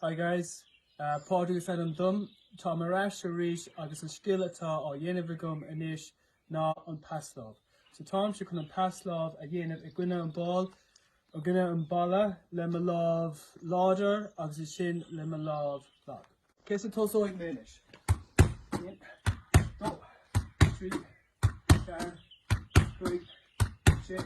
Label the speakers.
Speaker 1: Hi guys, Pádraig a Phelim dom. Táim ar ais arís agus an scil atá á dhéanamh agam anois ná an paslámh. So táimse chun an paslámh a dhéanamh i gcoinne an ball, i gcoinne an bhalla le mo lámh láidir agus ansin le mo lámh lag. So tosóidh mé anois? 1, 2, 3, 4, 5, 6.